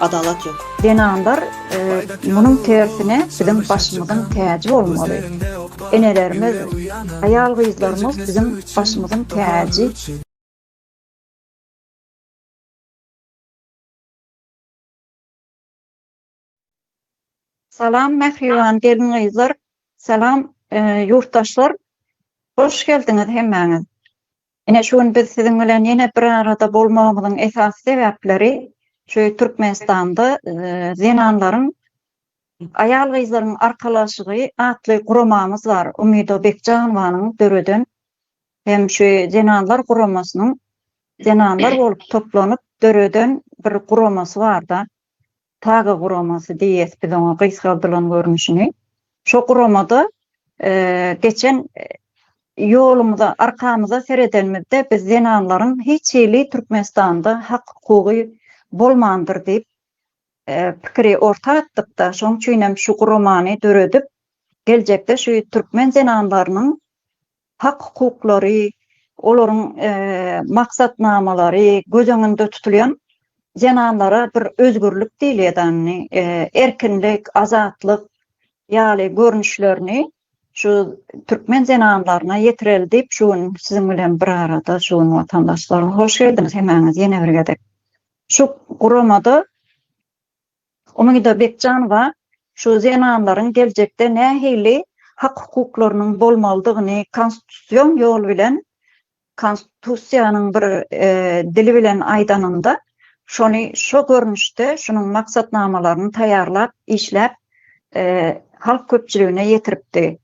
Adalat ýok. Zenanlar munuň tersine biziň başymyzyň täji bolmaly. Enelerimiz, aýal gyzlarymyz biziň başymyzyň täji. Salam mähriban gelin gyzlar salam ýurtdaşlar hoş geldiňiz hemmäňiz Ine şu gün biz siziň bilen ýene bir arada bolmagymyzyň esasy sebäpleri şu Türkmenistanda zenanlaryň Aýal-gyzlaryň arkalaşygy atly guramamyz bar. Umyda Bekjanowanyň döreden hem şu zenanlar guramasynyň zenanlar bolup toplanyp döreden bir guramasy barda. Taga guramasy diýýäs biz oňa gysgaldylan görnüşini. Şo guramada geçen ýolumyza, arkamyza seredenimizde biz zenanlaryň hiç hili Türkmenistanda hak-hukugy bolmandyr diýip pikiri orta atdyk-da, şonuň üçin hem şu guramany döredip, geljekde şu türkmen zenanlarynyň hak-hukuklary, olaryň maksatnamalary göz öňünde tutulýan zenanlara bir özgürlik diýilýädäni, erkinlik, azatlyk ýaly görnüşlerini şu türkmen zenanlaryna ýetireli diýip, şu gün siziň bilen bir arada şu gün watandaşlar hoş geldiňiz hemäňiz ýene bir gezek. Şu guramada Umyda Bekjanowa şu zenanlaryň geljekde nähili hak-hukuklarynyň bolmalydygyny konstitusion ýol bilen, konstitusiýanyň bir dili bilen aýdanyňda, şony şu görnüşde şunuň maksatnamalaryny taýýarlap, işläp, halk köpçüligine ýetiripdi.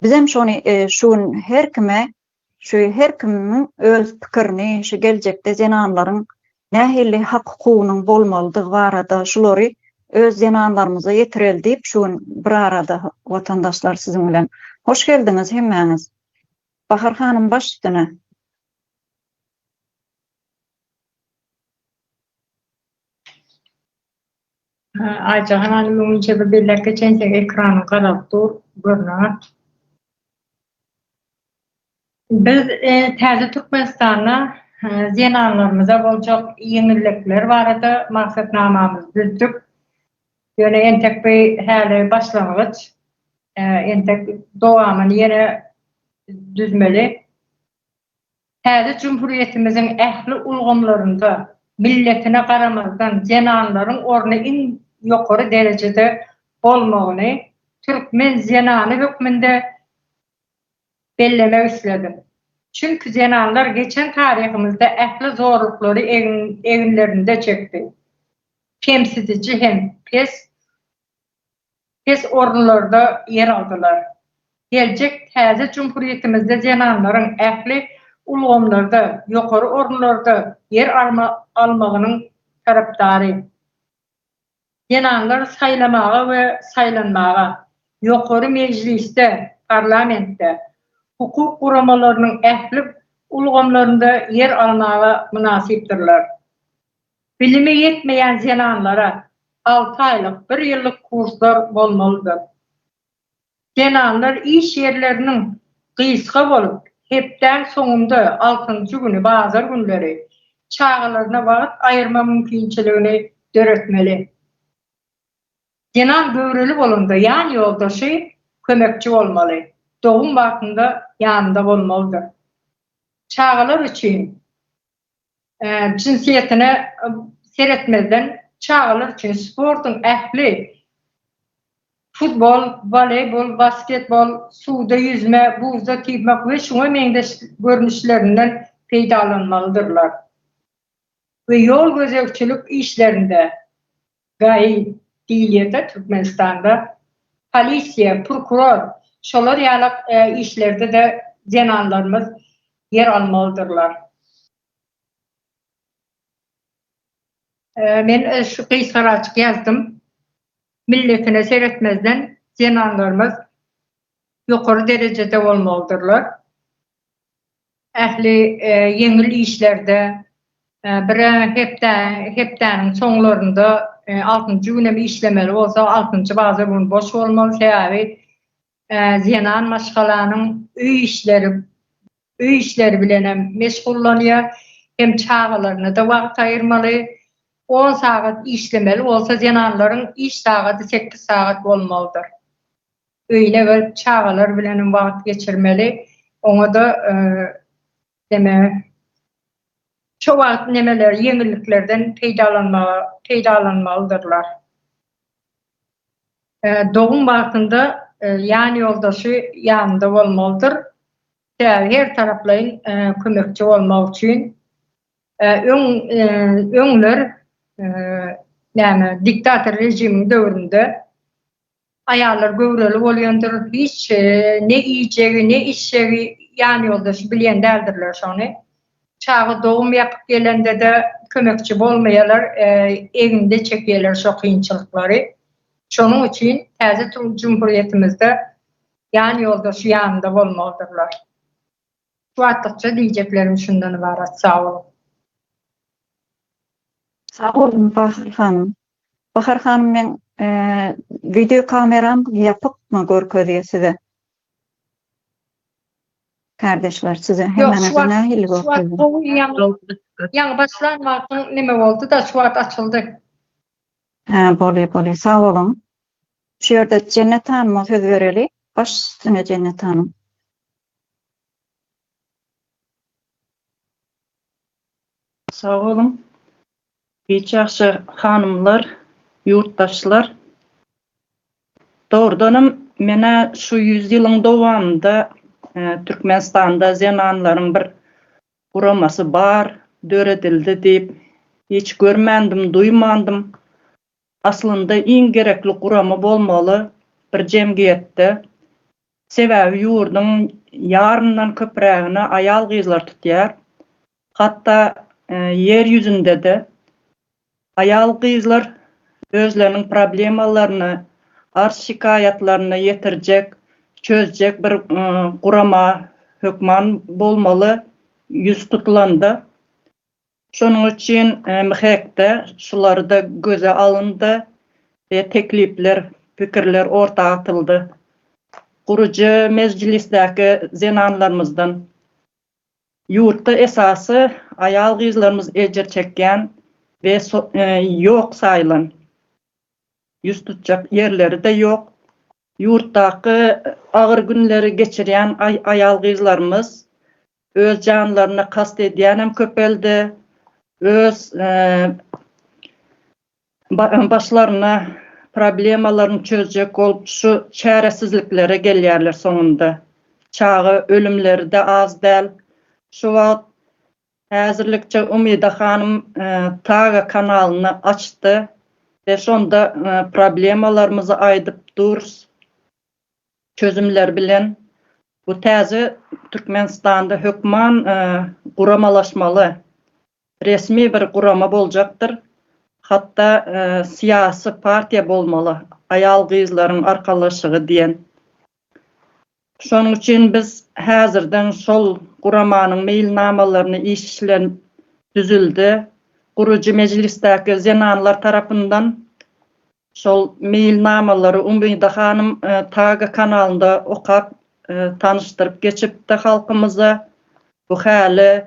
Bizem şony şu gün her kime Şu her kimiň öz pikirini şu geljekde zenanlaryň nähili hak-hukugynyň bolmalydygy barada şulary öz zenanlarymyza ýetireli diýip şu gün bir arada watandaşlar siziň bilen. Hoş geldiňiz hemmäňiz. Bahar hanym baş üstüne. Aýjahan hanym öňinçe bir belläpge çentek ekranyň garalyp dur, görünenok. Biz täze Türkmenistanda zenanlarymyza boljak ýeňillikler barada maksatnamamyzy düzdük. Ýöne entek bu häli başlangyç. Entek dowamyny ýene düzmeli. Täze Jumhuriýetimiziň ähli ulgamlarynda, milletine garamazdan, zenanlaryň orny iň ýokary derejede bolmagyny türkmen zenany hökmünde bellemek isledim. Çünki zenanlar geçen taryhymyzda ähli zorluklary eginlerinde çekdi. Kemsidiji hem pes pes orunlarda ýer aldylar. Geljek täze Jumhuriýetimizde zenanlaryň ähli ulgamlarda ýokary orunlarda ýer almagynyň tarapdary. Zenanlar saýlamaga we saýlanmaga, ýokary mejlisde, parlamentde, hukuk guramalarynyň ähli ulgamlarynda ýer almaga mynasypdyrlar. Bilimi ýetmeýän zenanlara alty aýlyk, bir ýyllyk kurslar bolmalydyr. Zenanlar iş ýerleriniň gysga bolup, hepdäň soňunda altynjy güni, bazar günleri çagalaryna wagt aýyrma mümkinçiligini döretmeli. Zenan göwreli bolanda ýan ýoldaşy, kömekçi bolmaly, dogum wagtynda ýanynda bolmalydyr. Çagalar üçin Jynsýetine seretmezden, çagalar üçin sportuň ähli, futbol, woleýbol, basketbol, suwda ýüzme, buzda typmak we şuňa meňzeş görnüşlerinden peýdalanmalydyrlar we ýol gözegçilik işlerinde Gaýy diýilýärde Türkmenistanda. Polisiýa, prokuror, şolar ýaly işlerde-de zenanlarymyz ýer almalydyrlar. Men şu gysgaraçyk ýazdym. Milletine seretmezden zenanlarymyz ýokary derejede bolmalydyrlar. Ähli ýeňil işlerde bir-ä hepdäniň soňlarynda altynjy günem işlemeli bolsa, altynjy baza gün boş bolmaly. Sebäbi zenan maşgalanyň öý işleri öý işleri bilenem meşgullanýar. Hem çagalaryna-da wagt aýyrmaly. On sagat işlemeli bolsa, zenanlaryň iş sagady sekiz sagat bolmalydyr. Öýüne gelip çagalar bilenem wagt geçirmeli. Oňa-da demek şo wagt nemeler ýeňilliklerden peýdalanmaga peýdalanmalydyrlar. Dogum wagtynda ýan ýoldaşy ýanynda bolmalydyr. Sebäbi her taraplaýyn kömekçi bolmak üçin. Öň öňler näme diktator režimiň döwründe Aýallar göwreli bolýandyr, hiç ne iýjegi, ne içjegi ýan ýoldaşy bilýän däldirler şony. Çaga dogum ýapyp gelende-de kömekçi bolmaýarlar, egninde çekýärler şo kynçylyklary. Şonuň üçin täze turan jumhurýetimizde ýan ýoldaşy ýanynda bolmalydyrlar. Şu wagtlykça diýjeklerim şundan ybarat sag boluň. Sag boluň Bahar hanym. Bahar hanym meň wideo kameram ýapykmy görkezýä size. Kardeşler size hemmäňize nähili görkezýä. Ýaňy başlan wagtyň neme boldyda şu wagt açyldy. Hä bolýa bolýa sag boluň. Şu ýerde Jennet hanma söz bereli. Baş üstüne Jennet hanym. Sag boluň. Hiç ýagşy hanymlar, ýurtdaşlar. Dogrudanam men-ä şu ýüz ýylyň dowamynda Türkmenistanda zenanlaryň bir guramasy bar, döredildi diýip hiç görmändim, duýmandym. Aslynda iň gerekli gurama bolmaly bir jemgyýetde, sebäbi ýurduň ýaryndan köprägini aýal-gyzlar tutýar. Hatda ýer ýüzünde-de aýal-gyzlar özleriniň problemalaryny, arz-şikaýatlaryny ýetirjek, çözjek bir gurama hökman bolmaly ýüz tutulanda. Şonuň üçin MHEK-de şular-da göze alyndy we teklipler, pikirler orta atyldy. Gurujy Mejlisdäki zenanlarymyzdan, ýurtda esasy aýal-gyzlarymyz ejir çekýän we ýok saýylan, ýüz tutjak ýerleri-de ýok, Ýurtdaky agyr günleri geçirýän aýal-gyzlarymyz öz janlaryna kast edýänem köpeldi, öz başlaryna problemalaryny çözjek bolup şu çäresizliklere gelýärler soňunda. Çaga ölümleri-de az däl. Şu wagt Häzirlikçe Umida hanym Saga kanalyny açdy we şonda problemalarymyzy aýdyp durus çözümler bilen bu täze Türkmenistanda hökman guramalaşmaly resmi bir gurama boljakdyr hatda syýasy partiýa bolmaly aýal gyzlaryň arkalaşygy diýen Şonuň üçin biz häzirden şol guramanyň meýilnamalaryny işlen düzüldi. Gurujy mejlisdäki zenanlar tarapyndan şol meýilnamalary Umyda hanym Taga kanalynda okap, tanyşdyryp geçipdi halkymyza. Bu häli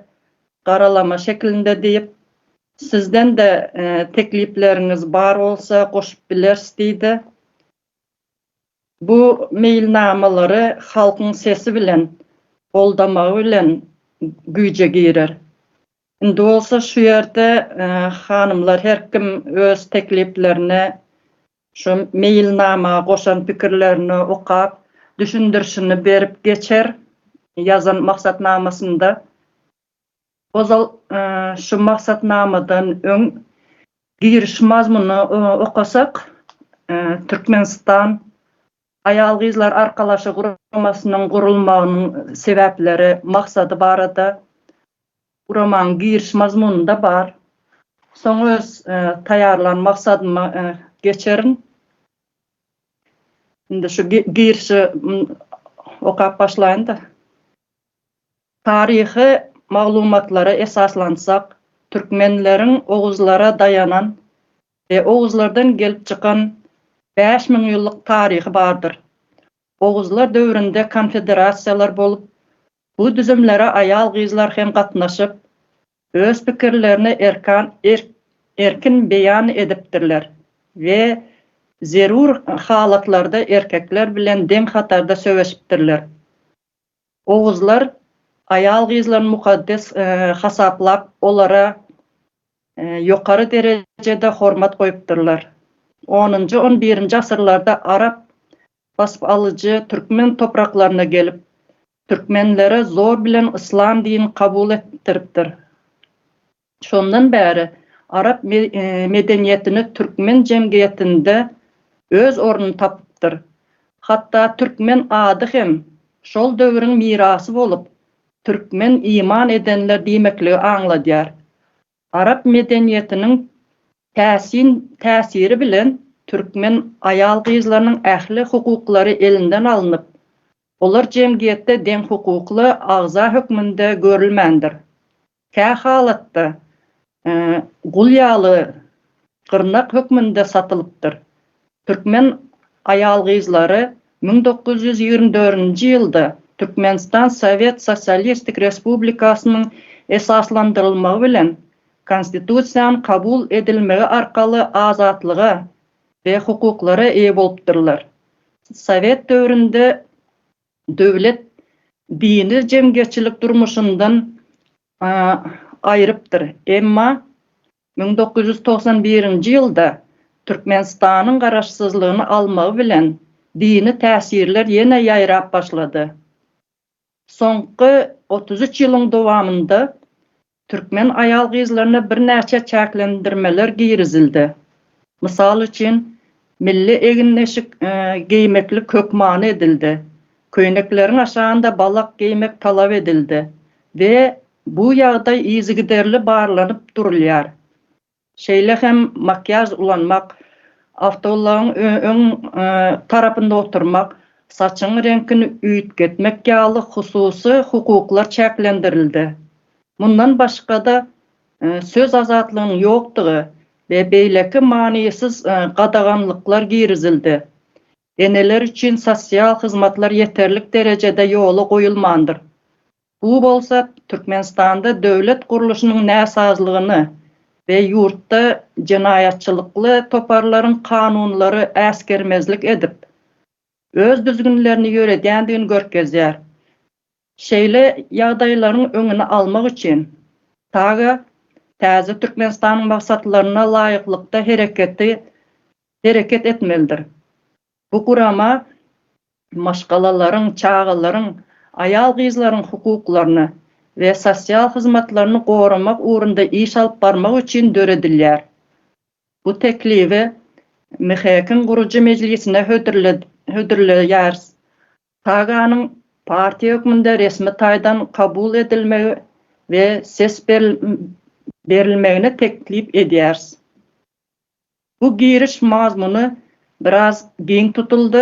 garalama şekilinde diýip, sizden-de teklipleriňiz bar bolsa goşup bileris diýdi. Bu meýilnamalary halkyň sesi bilen, goldamagy bilen güýje girer. Indi bolsa şu ýerde hanymlar her kim öz tekliplerini şu meýilnama goşan pikirlerini okap, düşündirişini berip geçer ýazan maksatnamasynda. Ozal şu maksatnamadan öň giriş mazmunyny okasak, Türkmenistan Aýal-gyzlar arkalaşygy guramasynyň gurulmagynyň sebäpleri, maksady barada guramanyň giriş mazmunynda bar. Soň öz taýýarlan maksadyma geçerin. Indi şu girişi okap başlaýyn-da. Taryhy maglumatlara esaslansak, türkmenleriň oguzlara daýanan we oguzlardan gelip çykan bäş müň ýyllyk taryhy bardyr. Oguzlar döwründe konfederasiýalar bolup, bu düzümlere aýal-gyzlar hem gatnaşyp, öz pikirlerini erkan erkin beýan edipdirler we zerur halatlarda erkekler bilen deň hatarda söweşipdirler. Oguzlar aýal-gyzlaryny mukaddes hasaplap, olara ýokary derejede hormat goýupdyrlar. Onunjy, on birinji asyrlarda arap basyp alyjy türkmen topraklaryna gelip, türkmenlere zor bilen yslam dinini kabul etdiripdir. Şondan bäri arap medeniýetini türkmen jemgyýetinde öz ornuny tapypdyr. Hatda türkmen ady hem şol döwrüň mirasy bolup, türkmen iman edenler diýmekligi aňladýar. Arap medeniýetiniň täsin täsiri bilen türkmen aýal-gyzlarynyň ähli hukuklary elinden alnyp, olar jemgyýetde deňhukukly agza hökmünde görülmändir. Kä halatda gul ýaly gyrnak hökmünde satylypdyr. Türkmen aýal-gyzlary müň dokuz ýüz ýigrimi dördünji ýylda Türkmenistan Sowet Sosialistik Respublikasynyň esaslandyrylmagy bilen Konstitusiýanyň kabul edilmegi arkaly azatlyga we hukuklara eýe bolupdyrlar. Sowet döwründe döwlet dini jemgyýetçilik durmuşyndan aýrypdyr. Emma müň dokuz ýüz togsan birinji ýylda Türkmenistanyň garaşsyzlygyny almagy bilen dini täsirler ýene ýaýrap başlady. Soňky otuz üç ýylyň dowamynda Türkmen aýal-gyzlaryna birnäçe çäklendirmeler girizildi. Mysal üçin, milli egindeşik geýmeklik hökmany edildi, köýnekleriň aşagynda balak geýmek talap edildi we bu ýagdaý yzygiderli barlanyp durulýar. Şeýle hem makiýaž ulanmak, awtoulagyň öň tarapynda oturmak, saçyň reňkini üýtgetmek ýaly hususy hukuklar çäklendirildi. Mundan başga-da, söz azatlygynyň ýokdugy we beýleki manysyz gadaganlyklar girizildi. Eneler üçin sosial hyzmatlar ýeterlik derejede ýola goýulmandyr. Bu bolsa Türkmenistanda döwlet gurluşynyň näsazlygyny we ýurtda jenaýatçylykly toparlaryň kanunlary äsgermezlik edip, öz düzgünlerini ýöredýändigini görkezýär. Şeýle ýagdaýlaryň öňüni almak üçin saga täze Türkmenistanyň maksatlaryna laýyklykda hereketi hereket etmelidir. Bu gurama maşgalalaryň, çagalaryň, aýal-gyzlaryň hukuklaryny we sosial hyzmatlaryny goramak ugrunda iş alyp barmak üçin döredilýär. Bu teklibi MHEK-iň gurujy mejlisine hödürleýäris. TAGA-nyň partiýa hökmünde resmi taýdan kabul edilmegi we ses berilmegini teklip edýäris. Bu giriş mazmuny biraz giň tutuldy,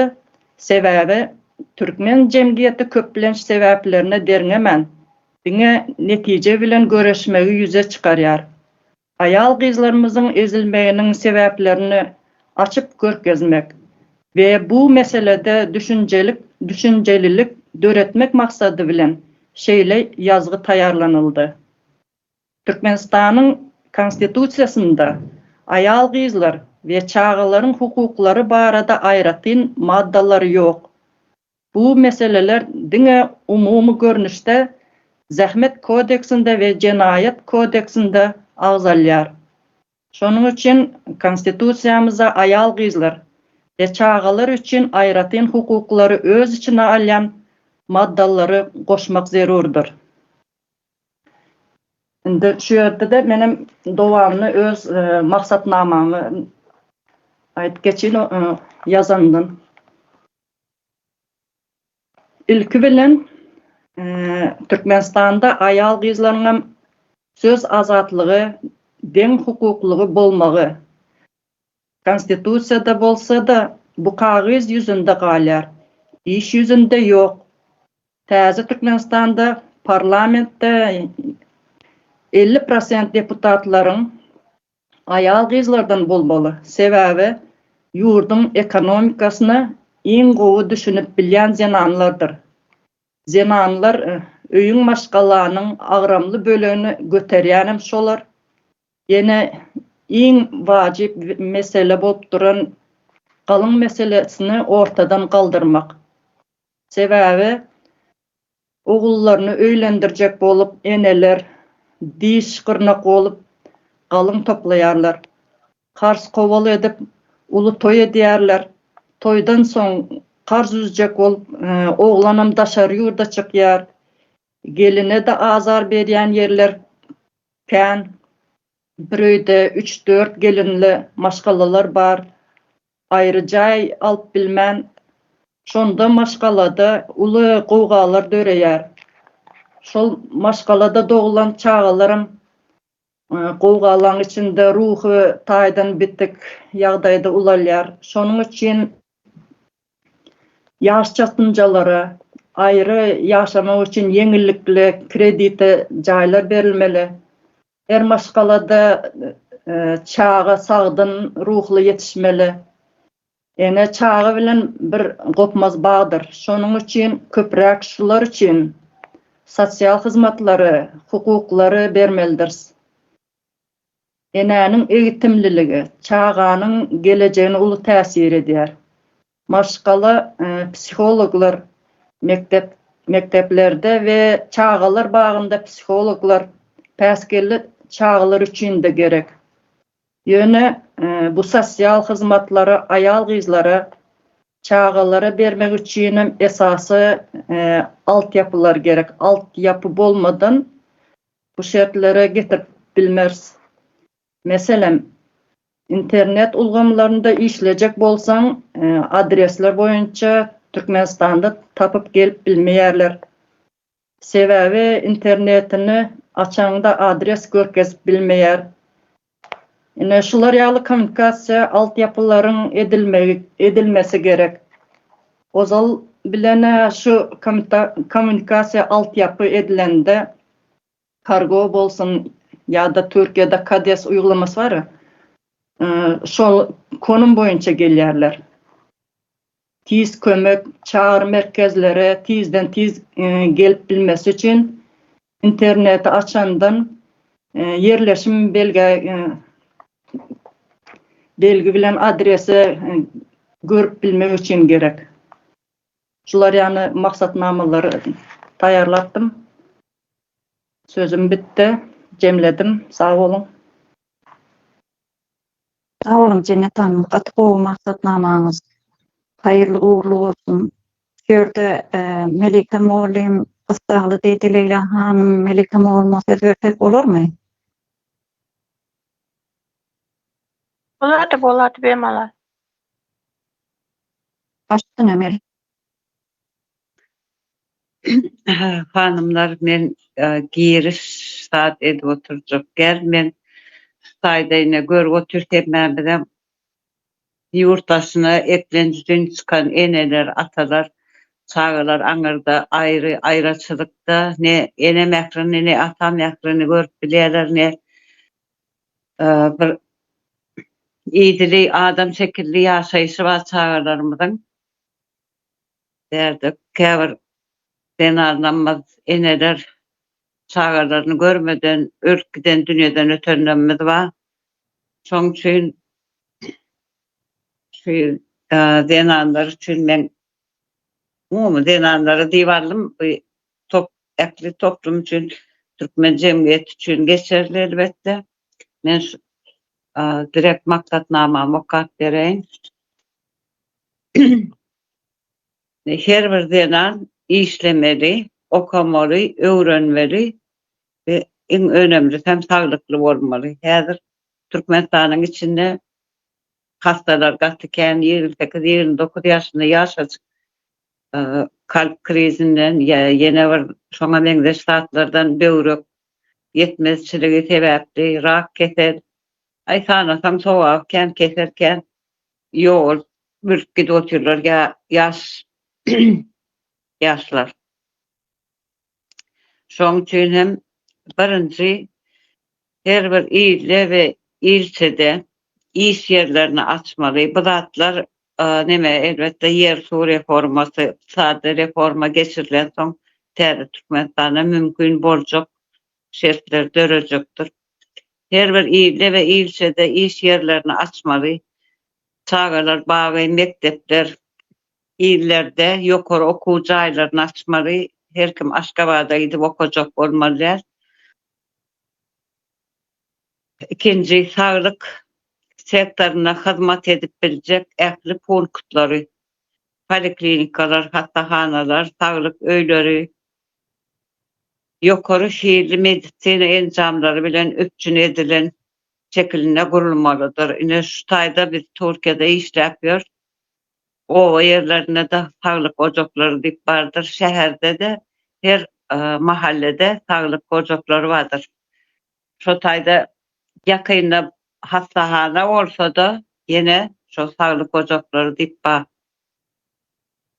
sebäbi türkmen jemgyýeti köplenç sebäplerine derňemän, diňe netije bilen göreşmegi ýüze çykarýar. Aýal-gyzlarymyzyň ezilmeginiň sebäplerini açyp görkezmek we bu meselede düşünjelik düşünjelilik döretmek maksady bilen şeýle ýazgy taýýarlanyldy. Türkmenistanyň Konstitusiýasynda aýal-gyzlar we çagalaryň hukuklary barada aýratyn maddalar ýok. Bu meseleler diňe umumy görnüşde Zähmet kodeksinde we Jenaýat kodeksinde agzalýar. Şonuň üçin Konstitusiýamyzda aýal-gyzlar we çagalar üçin aýratyn hukuklary öz içine alýan maddalary goşmak zerurdyr. Indi şu ýerde-de menem dowamyny öz maksatnamamy aýdyp geçeýin ýazandan. Ilki bilen Türkmenistanda aýal-gyzlaryň hem söz azatlygy, deň hukuklygy bolmagy, Konstitusiýada bolsa-da, bu kagyz ýüzünde galýar, iş ýüzünde ýok. Täze Türkmenistanda parlamentde elli prosent deputatlaryň aýal-gyzlardan bolmaly, sebäbi ýurduň ekonomikasyna iň gowy düşünip bilýän zenanlardyr. Zenanlar öýüň maşgalanyň agramly bölegini göterýänem şolar. Ýene iň wajyp mesele bolup duran galyň meselesini ortadan galdyrmak. Sebäbi ogullaryny öýlendirjek bolup eneler diş gyrnak bolup galyň toplaýarlar. Kars kowal edip, uly toý edýärler. Toýdan soň kars üzjek bolup, oglanam daşary ýurda çykýar. Geline-de azar berýän ýerler kän. Bir öýde üç-dört gelinli maşgalalar bar. Aýry jaý alyp bilmän, şonda maşgalada uly gowgalar döreýär. Şol maşgalada doglan çagalaram Gowgalaň içinde ruhy taýdan bitik ýagdaýda ulalýar. Şonuň üçin ýaşjasynjalara aýry ýaşamak üçin ýeňillikli kredite jaýlar berilmeli. Her maşgalada çaga sagdyn ruhly ýetişmeli. Ene çaga bilen bir gopmaz bagdyr. Şonuň üçin köpräk şular üçin sosial hyzmatlary, hukuklary bermelidiris. Enäniň egitimliligi çaganyň gelejegine uly täsir edýär. Maşgala psihologlar mekdep mekdeplerde we çagalar bagynda psihologlar päsgelli çagalar üçin-de gerek. Ýöne bu sosial hyzmatlary aýal-gyzlara, çagalara bermek üçinem esasy altyapylar gerek. Altyapy bolmadan bu şertlere getirip bilmeris. Meselem, internet ulgamlarynda işlejek bolsaň, adresler boýunça Türkmenistanda tapyp gelip bilmeýärler. Sebäbi internetini açaňda adres görkezip bilmeýär. Ine şular ýaly kommunikasiýa altyapylaryň edilmegi edilmesi gerek. Ozal bilenä şu kommunikasiýa altyapy edilende kargo bolsun ýa-da Türkiýede kades uýgulamasy bar. Şol konum boýunça gelýärler. Tiz kömek çagyry merkezlere tizden-tiz gelip bilmesi üçin interneti açandan ýerleşim belgä belgi bilen adresi görüp bilmek üçin gerek. Şular ýaly maksatnamalary taýýarlapdym. Sözüm bitdi. Jemledim. Sag boluň. Sag boluň Jennet hanym gaty gowy maksatnamaňyz haýyrly ugrly bolsun. Şu ýerde Melike mugallym gyssagly diýdi Leýla hanym Melike mugallyma söz bersek bolarmy? Bolady bolady bemalal. Başdan hem el. Hanymlar men giriş zat edip oturjak däl men saýda ine görüp otyr hemmemizem ýurt daşyna eklenç üçin çykan eneler atalar çagalar aňyrda aýry aýraçylykda ne ene mährini ne ata mährini görüp bilýäler ne bir idili adam şekilli ýaşaýşy bar çagalarymyzyň Bärde käbir zenan namaz eneler çagalaryny görmeden ölüp giden dünýeden ötenlerimiz bar. Şoň üçin şu zenanlar üçin men umumy zenanlara diýip aldym. Bu top ähli toplum üçin türkmen jemgyýeti üçin geçerli elbetde. Men şu direkt maksatnamamy okap bereýin. Her bir zenan işlemeli, okamaly, öwrenmeli we iň önemlisi hem saglykly bolmaly. Häzir Türkmenistanyň içinde hassalar gaty kän, ýigrimi sekiz, ýigrimi dokuz ýaşynda ýaşajyk kalp krizinden ýa ýene bir şoňa meňzeş zatlardan, böwrek ýetmezçiligi sebäpli rak kesel, aý sanasaň sowaby kän, kesel kän. Ýol bölüp gidip otyrlar ýa ýaş ýaşlar. Şoň üçin hem birinji her bir ilde we ilçede iş ýerlerini açmaly. Bu zatlar neme elbetde ýer-suw reformasy, ykdysady reforma geçirilensoň täze Türkmenistanda mümkin boljak şertler dörejekdir. Her bir ilde we ilçede iş ýerlerini açmaly. Çagalar bagy, mekdepler, illerde ýokary okuw jaýlaryny açmaly. Her kim Aşgabada gidip okajak bolmaly däl. Ikinji, saglyk sektorynda hyzmat edip biljek ähli punktlary, poliklinikalar, hassahanalar, saglyk öýleri, ýokary hilli medisina enjamlary bilen üpjün edilen şekilinde gurulmalydyr. Ine, şu taýda biz Türkiýede işläp ýörüs. Oba ýerlerinde-de saglyk ojaklary diýip bardyr. Şäherde-de her mahallede saglyk ojaklary bardyr. Şo taýda ýakynda hassahana bolsa-da, ýene şo saglyk ojaklary diýip bar.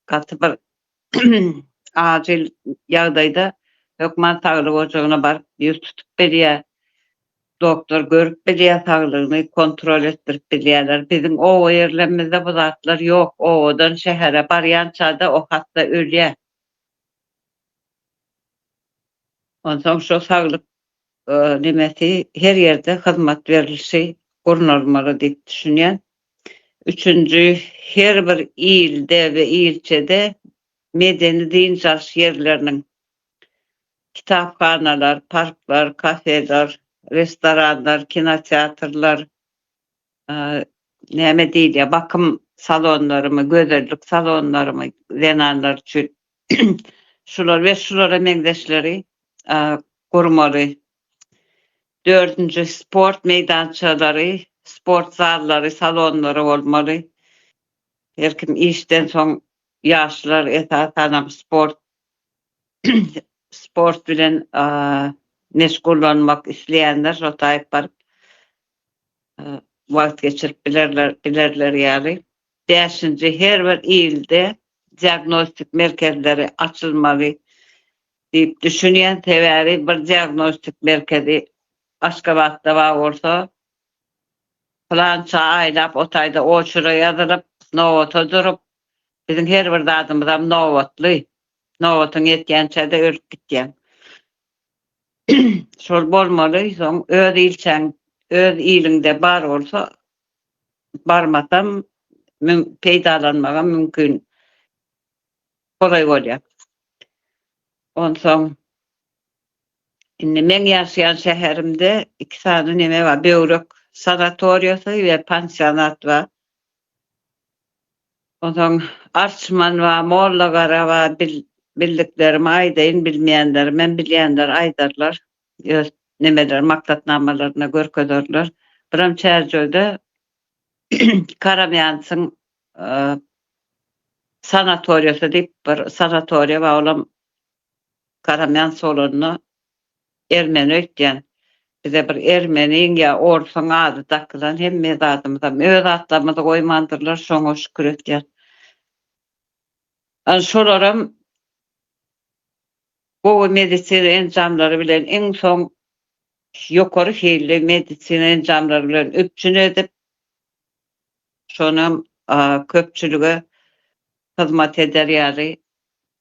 Gaty bir Ajyl ýagdaýda hökman saglyk ojagyna baryp ýüz tutup bilýär. Doktor görüp bilýär saglygyny, kontrol etdirip bilýärler. Biziň oba ýerlerimizde bu zatlar ýok. Obadan şähere barýançada o hassa ölýär. Onsoň şo saglyk Nemesi, her ýerde hyzmat berlişi gurnalmaly diýip düşünýän. Üçünji, her bir ilde we ilçede medeni-dynç alyş ýerleriniň, kitaphanalar, parklar, kafeler, restoranlar, kinoteatrlar, näme diýilýär, bakym salonlarymy, gözellik salonlarymy zenanlar üçin şular we şulara meňzeşleri gurmaly. Dördünji, sport meýdançalary, sport zallary, salonlary bolmaly. Her kim işden soň ýaşlar esasanam sport sport bilen meşgullanmak isleýänler şo taýyp baryp wagt geçirip bilerler, bilerler ýaly, bäşinji her bir ilde diagnostik merkezleri açylmaly diýip düşünýän, sebäbi bir diagnostik merkezi Aşgabatda bar bolsa, pylança aýlap o taýda oçura ýazylyp, nobata durup, biziň her bir zadymyzam nobatly, nobatyň ýetýänçä-de ölüp gitýäň. Şol bolmaly, soň öz ilçäň öz iliňde bar bolsa, barmasam mün peýdalanmagam mümkin, golaý bolýar. Onsoň indi meň ýaşaýan şäherimde iki sany neme bar, böwrek sanatoriýasy we pansionat bar. Onsoň Arçman we Mollagara we bildiklerimi aýdaýyn, bilmeýänlerim hem bilýänler aýdarlar, öz nemeleri maksatnamalarynda görkezerler. Biram Çärjewi'de Karamýansyň sanatoriýasy diýip bir sanatoriýa bar, olam Garamyan solanda ermeni öýtýän bize bir ermeniň ýa orsuň ady dakylan hemme zadymyzam öz atlarymyzy goýmandyrlar şoňa şükür etýän. An şolaram gowy medisina enjamlary bilen iň soň ýokary hilli medisina enjamlary bilen üpjün edip şonam köpçülige hyzmat eder ýaly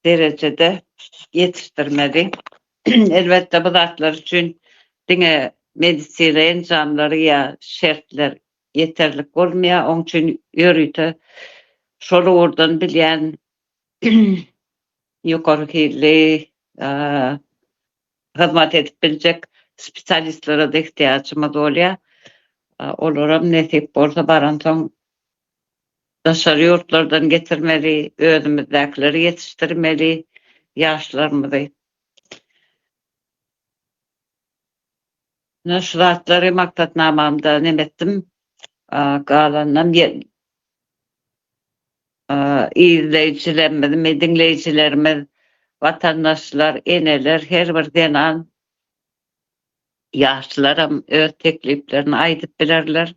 derejede ýetişdirmeli. Elbetde, bu zatlar üçin diňe medisina enjamlary ýa şertler ýeterlik bolmaýar. Oň üçin ýörite şol ugurdan bilýän ýokary hilli hyzmat edip biljek spesialistlere-de ihtiýajymyz bolýar. Olaram nesip bolsa baransoň daşary ýurtlardan getirmeli, özümizdäkileri ýetişdirmeli ýaşlarymyzy. Mundan şu zatlary maksatnamamda neme etdim, galanynam izleýjilerimizmi, diňleýjilerimiz, watandaşlar, eneler, her bir zenan, ýaşlaram öz tekliplerini aýdyp bilerler.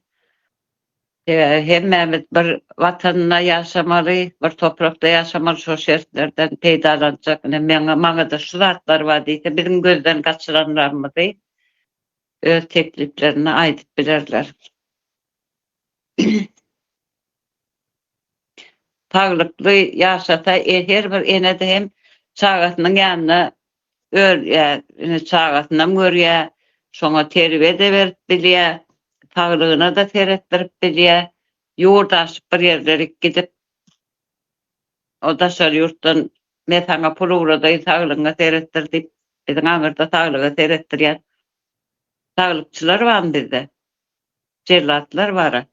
Hemmämiz bir Watanda ýaşamaly, bir toprakda ýaşamaly, şol şertlerden peýdalanjak. Ine, meň, maňada şu zatlar bar diýse, biziň gözden gaçyranlarymyzy öz tekliplerinde aýdyp bilerler. Saglykly ýaşasa, her bir ene-de hem çagasynyň ýanyna Örýär, indi çagasynam görýär, şoňa terbiýe-de berip bilýär, saglygyna-da seretdirip bilýär. Ýurt aşyp bir ýerlerik gidip, o daşary ýurtdan, Men saňa pul ugradaýyn, saglygyňa seretdir diýip, biziň aňyrda saglyga seretdirýän saglykçylar barmy bizde? Jellatlar bar-a.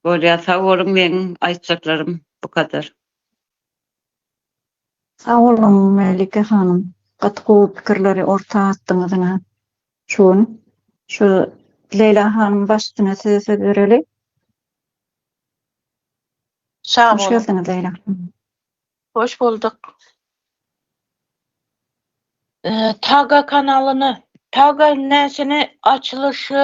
Bolýar, sag boluň, meň aýtjaklarym bu kadar. Sag boluň Melike hanym, gaty gowy pikirleri orta atdyňyz ine şu gün. Şu Leýla hanym baştune size söz bereli. Sag boluň. Hoş geldiňiz Leýla hanym. Hoş bulduk. Taga kanalyny, taga näsini açylyşy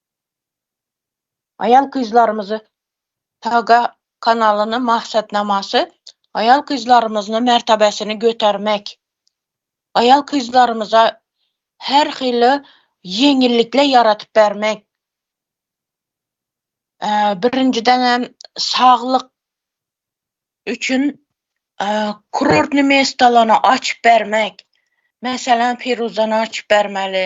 Aýal-gyzlarymyzy Saga kanalynyň maksatnamasy aýal-gyzlarymyzyny mertebesini götermek, aýal-gyzlarymyza her hili ýeňillikler ýaradyp bermek, birinjiden hem saglyk üçin kurortny mestalaryny açyp bermek, meselem Firuzany açyp bermeli,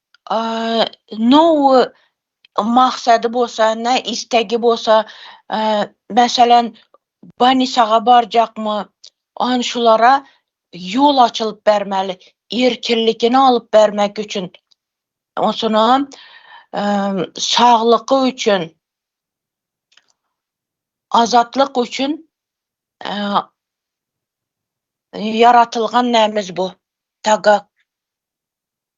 no maksady bolsa ne istegi bolsa meselem banisaga barjakmy on şulara ýol açylyp bermeli erkinlikini alyp bermek üçin onsoňam saglygy üçin azatlyk üçin ýaratylgan nämz bu tagak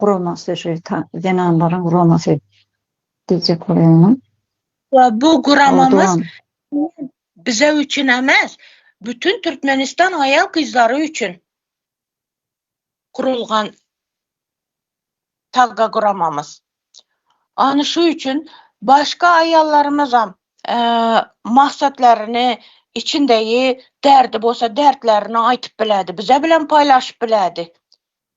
guramasy şu zenanlaryň guramasy diýjek bolýanam. We bu guramamyz bize üçin emas, bütün Türkmenistan aýal-gyzlary üçin gurulgan tagga guramamyz. Ana şu üçin başga aýallarymyzam maksatlaryny, içindägi därdi bolsa därtlerini aýtyp bilerdi, bize bilen paýlaşyp bilerdi.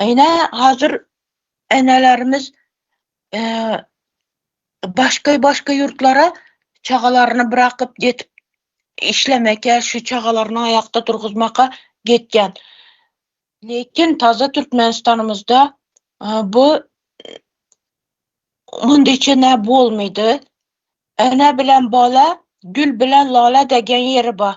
Ine hazir enelerimiz başga başga ýurtlara çagalaryny brakyp getip işlemeke şu çagalaryny aýakda durguzmaka getýän. Lekin taze Türkmenistanymyzda bu mundy çene bolmady. Ene bilen bala gül bilen lala degen ýeri bar.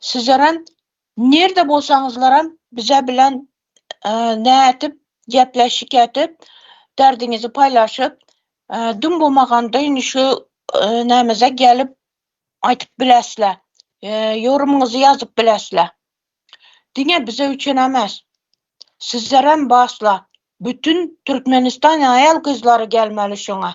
Sizeram, nirde bolsaňyzlaram bize bilen nädip gepleşik edip, derdiňizi paýlaşyp, dum bomagandy indi şu nämeze gelip aýdyp bilesle. Ýorumyňyzy ýazyp bilesle. Diňe bize üçin emes, sizeram basla, bütün Türkmenistan aýal-gyzlary gelmeli şoňa.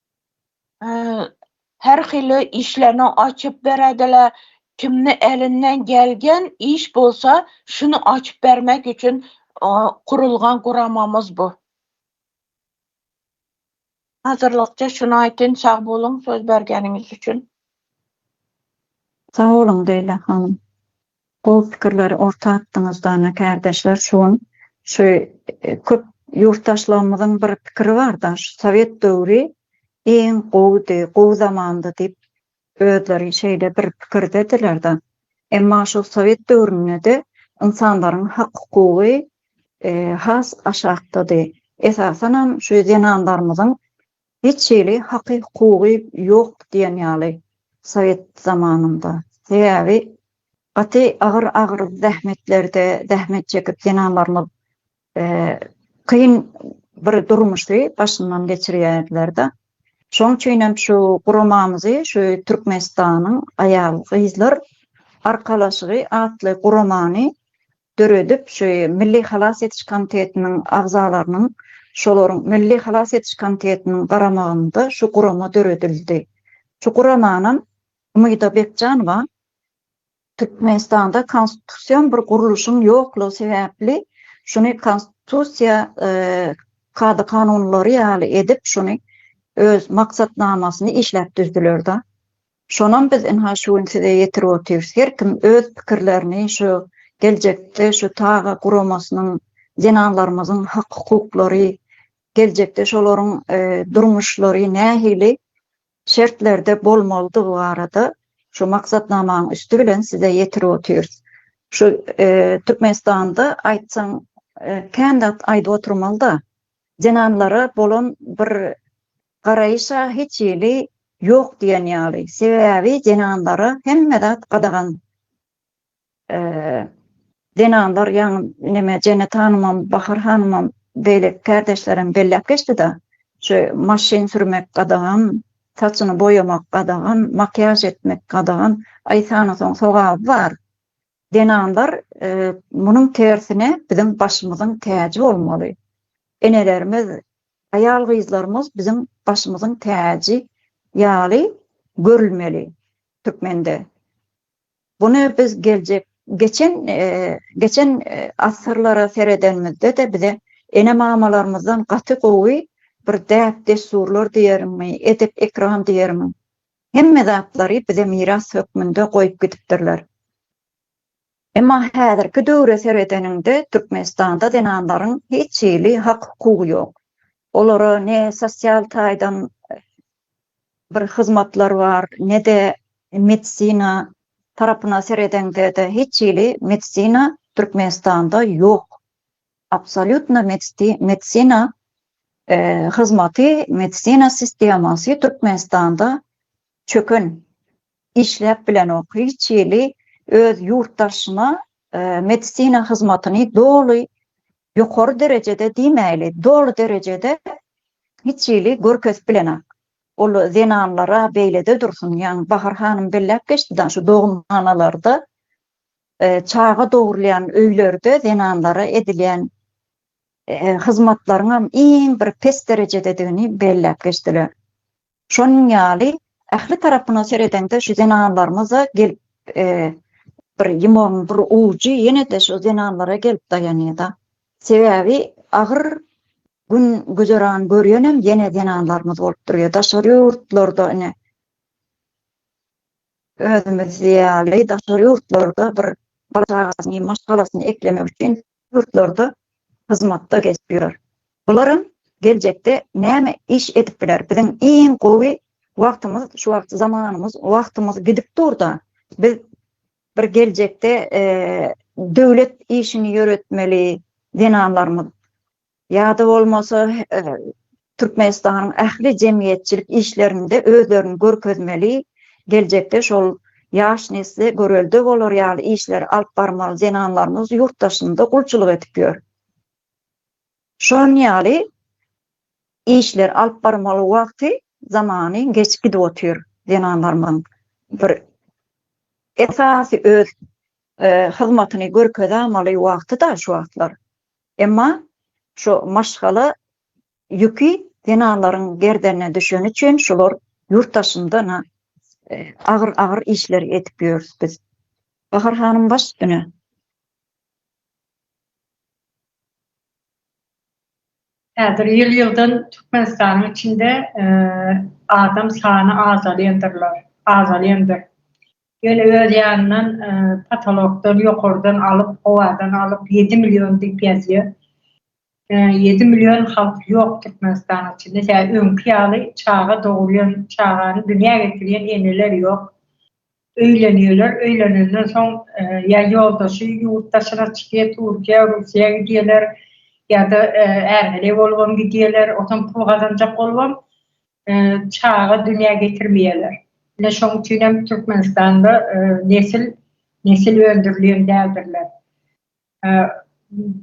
Her hili işlerini açyp berediler. Kimni elinden gelgen iş bolsa şuny açyp bermek üçin gurulgan guramamyz bu. Hazırlykça şuny aýtyn sag boluň söz bergeniňiz üçin. Sag boluň Leýla hanym. Gowy pikirleri orta atdyňyz dana kärdeşler şu gün şu köp ýurtdaşlarymyzyň bir pikiri barda şu sowet döwri iň gowydy gowy zamandy diýip özleri şeýle bir pikirdedilerda emma şol sowet döwründede ynsanlaryň hak hukugy has aşakdady esasanam şu zenanlarymyzyň Hiç hili haky-hukugy ýok diýen ýaly sowet zamanynda. Sebäbi gaty agyr-agyr zähmetlerde zähmet çekip zenanlarymyz kyn bir durmuşy başyndan geçirýärdiler-de. Şoň üçin hem şu guramamyzy, şu Türkmenistanyň aýal-gyzlar arkalaşygy atly guramany döredip, şu Milli halas ediş komitetiniň agzalarynyň, şolaryň Milli halas ediş komitetiniň garamagynda şu gurama döredildi. Şu guramanam Umyda Bekjanowa Türkmenistanda konstitusion bir gurluşyň ýoklugy sebäpli şuny konstitusiýa kada-kanunlary ýaly edip şuny öz maksatnamasyny işläp düzdüler-de. Şonam biz ynha şu gün size ýetirip otyrys. Her kim öz pikirlerini şu geljekde şu taga guramasynyň zenanlarymyzyň hak-hukuklary, geljekde şolaryň durmuşlary nähili şertlerde bolmalydygy barada şu maksatnamanyň üsti bilen size ýetirip otyrys. Şu Türkmenistanda aýtsaň kän zat aýdyp oturmaly-da. Zenanlara bolan bir Garaýyş-a hiç hili ýok diýen ýaly. Sebäbi zenanlara hemme zat gadagan. Zenanlar ýaňy neme Jennet hanymam, Bahar hanymam, beýleki kärdeşlerem belläp geçdi-de, şu maşyn sürmek gadagan, saçyny boýamak gadagan, makiýaž etmek gadagan. Aý sanasaň sogaby bar. Zenanlar munuň tersine biziň başymyzyň täji bolmaly. Enelerimiz, aýal-gyzlarymyz biziň başymyzyň täji ýaly görülmeli türkmende. Buny biz geljek geçen geçen asyrlara seredenimizde-de bize ene-mamalarymyzdan gaty gowy bir däp-dessurlar diýerimmi, edep-ekram diýermi, Hemme zatlary bize miras hökmünde goýup gidipdirler. Emma häzirki döwre seredeniňde Türkmenistanda zenanlaryň hiç hili hak hukugy ýok. Olara ne sosial taýdan bir hyzmatlar bar, ne-de medisina tarapyna seredeňde-de hiç hili medisina Türkmenistanda ýok. Absolýutna medisina hyzmaty medisina sistemasy Türkmenistanda çöken, işläp bilenok. Hiç hili öz ýurtdaşyna medisina hyzmatyny doly ýokary derejede diýmäýli, doly derejede hiç hili görkezip bilenok. Ol zenanlara beýlede dursun, ýagny Bahar hanym belläp geçdi-de, şu dogunhanalarda Çaga dogurylýan öýlerde zenanlara edilýän hyzmatlaryňam iň bir pes derejededigini belläp geçdiler. Şonuň ýaly ähli tarapyna seredeňde şu zenanlarymyz-a gelip bir ýumagyň bir ujy ýene-de şu zenanlara gelip daýanýa-da. Sebäbi agyr gün güzeran görýänem ýene zenanlarymyz bolup durýa. Daşary ýurtlarda ine Özümiz ýaly daşary ýurtlarda bir bala çagasyny, maşgalasyny eklemek üçin ýurtlarda hyzmatda gezip ýör. Bularam geljekde näme iş edip biler? Biziň iň gowy wagtymyz şu wagt zamanymyz, wagtymyz gidip dur-da, biz bir geljekde döwlet işini ýöretmeli zenanlarymyz Ýa-da bolmasa, Türkmenistanyň ähli jemgyýetçilik işlerinde özlerini görkezmeli, geljekde şol ýaş nesle görelde bolar ýaly işleri alyp barmaly zenanlarymyz ýurt daşynda gulçulyk edip ýör. Şon ýaly işleri alyp barmaly wagty, zamany geçip gidip otyr zenanlarymyzyň. Bir esasy öz hyzmatyny görkezämaly wagty-da şu wagtlar. Emma şu maşgala ýüki zenanlaryň gerdenine düşeni üçin şular ýurt daşynda-na agyr-agyr işleri edip ýörüs biz. Bahar hanym baş üstüne. Häzir ýyl-ýyldan Türkmenistanyň içinde adam sany azalýandyrlar, azalýandyr. Ýöne öz ýanyndan potolokdan, ýokardan alyp, howadan alyp ýedi million diýip ýazýar. Ýedi million halk ýok Türkmenistanyň içinde. Tä öňki ýaly çaga dogurýan, çagany dünýä getirýän eneler ýok. Öýlenýärler, öýlenenden soň ýa ýoldaşy ýurt daşyna çykýar, Türkiýä, Russiýa gidýärler ýa-da ärheleý bolubam gidýärler. Otam pul gazanjak bolubam çaga dünýä getirmeýärler. Ine şoň üçin hem Türkmenistanda nesil nesil öndürilýän däldirler.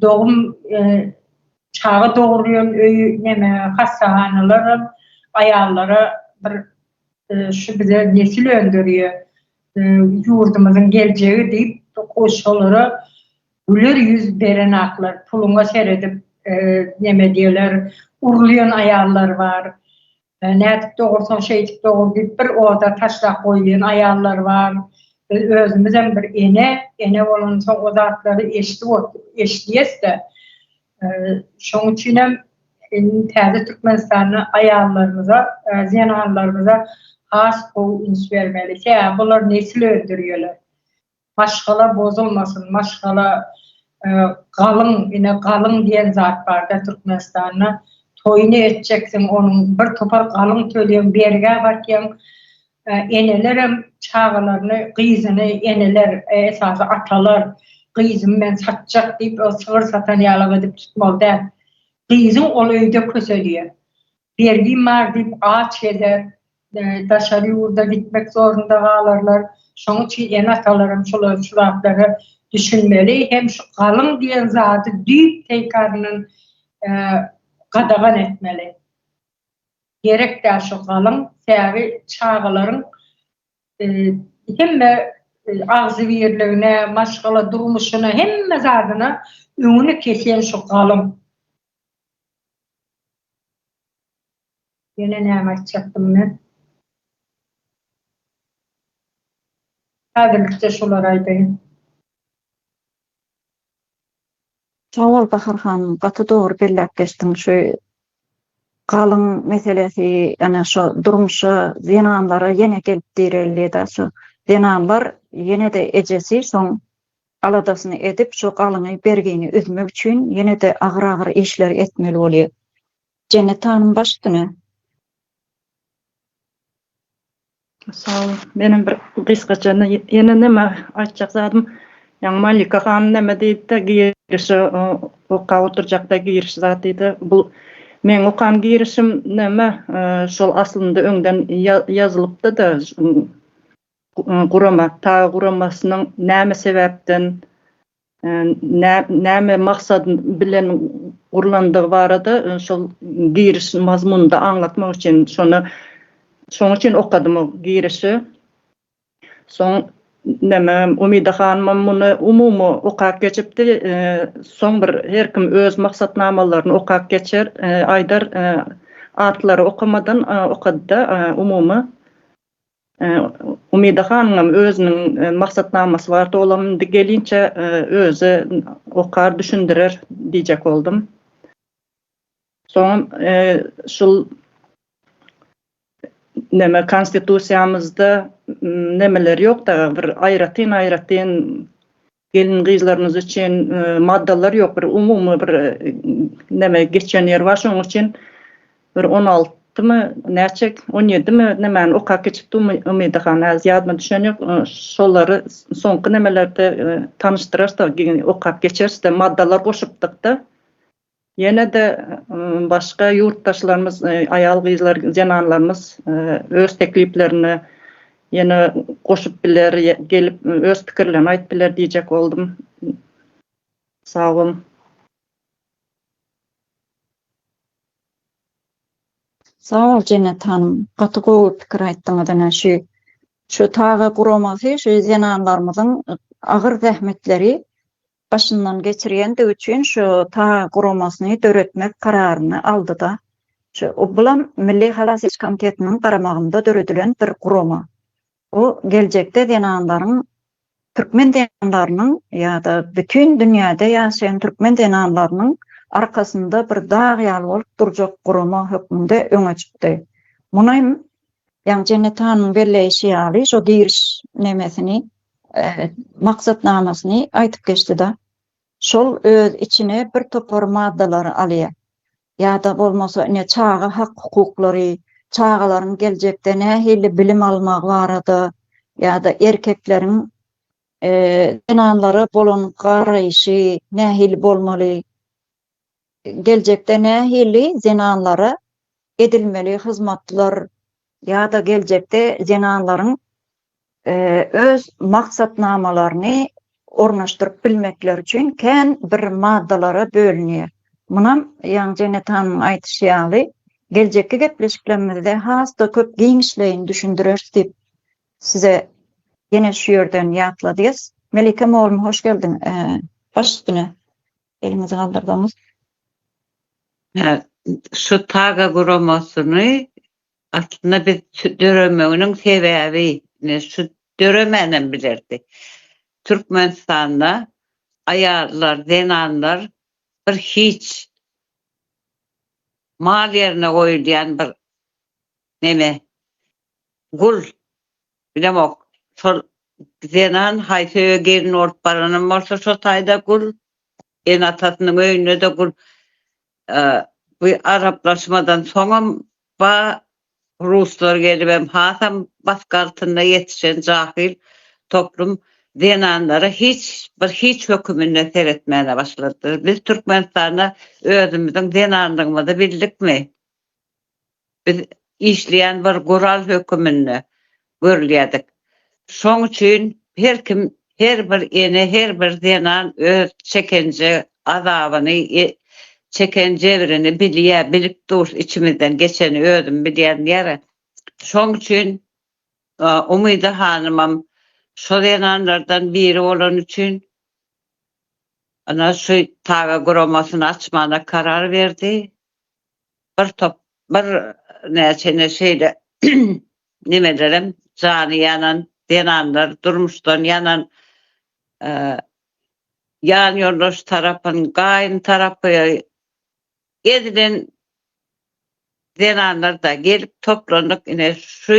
Dogum çaga dogurýan öý neme hassahanalar hem aýallara bir şu bize nesil öndürýär, ýurdumyzyň geljegi diýip, goşgulara Güler ýüz berenaklar puluňa seredip neme diýerler urulýan aýallar bar. Nädip dogursaň şeýdip dogur diýip bir oda taşlap goýulýan aýallar bar. Biz özümizem bir ene, ene bolansoň o zatlary eşidip otyrys, eşidýäs-de. Şoň üçinem indi täze Türkmenistanda aýallarymyza, zenanlarymyza has gowy üns bermeli. Sebäbi bular nesil öndürýärler. Maşgala bozulmasyn, maşgala galyň, ine galyň diýen zat barda Türkmenistanda, toýuny etjeksiň, onuň bir topar galyň töleýäň, bergä batýaň, enelerem çagalaryny, gyzyny, eneler, esasy atalar, gyzymy men satjak diýip, sygyr satan ýaly edip tutmaly däl, gyzyň ol öýde köseliýär. Bergim bar diýip aç gezer, daşary ýurda gitmek zorunda galarlar. Şonuň üçin ene-atalaram şolaryň şu zatlara düşünmeli hem şu galyň diýen zady düýp teýkaryndan gadagan etmeli. Gerek däl şu galyň, säri çagalaryň hemme agzybirligine, maşgala durmuşyna, hemme zadyna öňüni kesýän şu galyň. Ýene näme aýtjakdym men? Häzirlikçe şulary aýdaýyn. Sag bol Bahar hanym gaty dogry belläp geçdiň şu galyň meselesi ýane şo durmuşa zenanlara ýene gelip direldi da şu zenanlar ýene-de ejesi şoň aladasyny edip şu galyňy bergini üzmek üçin ýene-de agyr agyr işler etmeli bolýa. Jennet hanym baş üstüne. Sagbol menem bir gysgaça ýene näme aýtjak zadym ýa Malika hanym näme diýdi-de girişe okap oturjakda giriş zat diýdi bu meň okan girişim näme şol aslynda öňden ýazylypdy-da. Gurama, TAGA guramasynyň näme sebäpden, näme maksat bilen gurlandygy barada şol giriş mazmunynda aňlatmak üçin şony şonuň üçin okadym o girişi. Soň näme Umida hanymam muny umumy okap geçipdi. Soň bir her kim öz maksatnamalaryny okap geçer, aýdar atlary okamadan okady-da umumy Umyda hanyňam özüniň maksatnamasy bardy, olam indi gelinçe özi okar, düşündirer diýjek boldum. Soňam şul neme konstitusiýamyzda nemeler ýok-da, bir aýratyn-aýratyn Gelin-gyzlarymyz üçin maddalar ýok, bir umumy bir neme geçen ýeri bar, şonuň üçin bir on altymy, näçe, on ýedimi nemäni okap geçipdi Umyda han, häzir ýadyma düşen ýok, şolary soňky nemelerde tanyşdyrarys-da, okap geçeris-de, maddalar goşupdyk-da, Ýene-de başga ýurtdaşlarymyz, aýal-gyzlar, zenanlarymyz öz tekliplerini ýene goşup biler, gelip öz pikirlerini aýyp biler diýjek boldum. Sag boluň. Sag bol Jennet hanym, gaty gowy pikir aýtdyňyz ine şu şu taga guramasy şu zenanlarymyzyň agyr zähmetleri başyndan geçirýändigi üçin şu ta guramasyny döretmek kararyny aldy-da. Şu, bulam Milli halas ediş komitetiniň garamagynda döredilen bir gurama. Bu geljekde zenanlaryň, türkmen zenanlarynyň ýa-da bütin dünýäde ýaşaýan türkmen zenanlarynyň arkasynda bir dag ýaly bolup durjak gurama hökmünde öňe çykdy. Muny Ýagny Jennet hanyň belleýşi ýaly şo giriş nemesini, maksatnamasyny aýdyp geçdi-de, şol öz içine bir topar maddalary alýar. Ýa-da bolmasa ine çaga hak-hukuklary, çagalaryň geljekde nähili bilim almagy barada ýa-da erkekleriň zenanlara bolan garaýşy nähili bolmaly, geljekde nähili zenanlara edilmeli hyzmatlar ýa-da geljekde zenanlaryň öz maksatnamalaryny ornaşdyryp bilmekleri üçin kän bir maddalara bölünýär. Munam, ýaňy Jennet hanymyň aýdyşy ýaly, geljekki gepleşiklerimizde has-da köp giňişleýin düşündireris diýip, size ýene şu ýerden ýatladýas. Melike mugallym, hoş geldiň! Baş üstüne! Elimizi galdyrdygyňyz Hä, şu TAGA guramasyny aslynda biz döremeginiň sebäbi, ine şu döremänem bilerdi. Türkmenistanda aýallar, zenanlar bir hiç. Mal ýerine goýulýan bir neme, gul. Bilemok, şol zenan haýsy öýe gelin bolup baranam bolsa şo taýda gul, ene-atasynyň öýünde-de gul. Bu araplaşmadan soňam ba ruslar gelibem hasam bask altynda ýetişen jahyl toplum zenanlara hiç bir hiç höküminde seretmäne başladylar. Biz Türkmenistanda özümiziň zenanlygymyzy bildikmi? Biz işleýän bir gural höküminde görülýärdik. Şoň üçin her kim, her bir ene, her bir zenan öz çeken azabyny, çeken jebrini bilýär, bilip dur, içimizden geçeni özüm bilýän ýeri. Şoň üçin Umyda hanymam şo zenanlardan biri bolany üçin ana şu TAGA guramasyny açmana karar berdi. bir top bir näçene şeýle nemelerem jany ýanan zenanlar durmuşdan ýanan ýan ýoldaş tarapyn gaýyn tarapy ezilen zenanlarda gelip toplandyk ine şu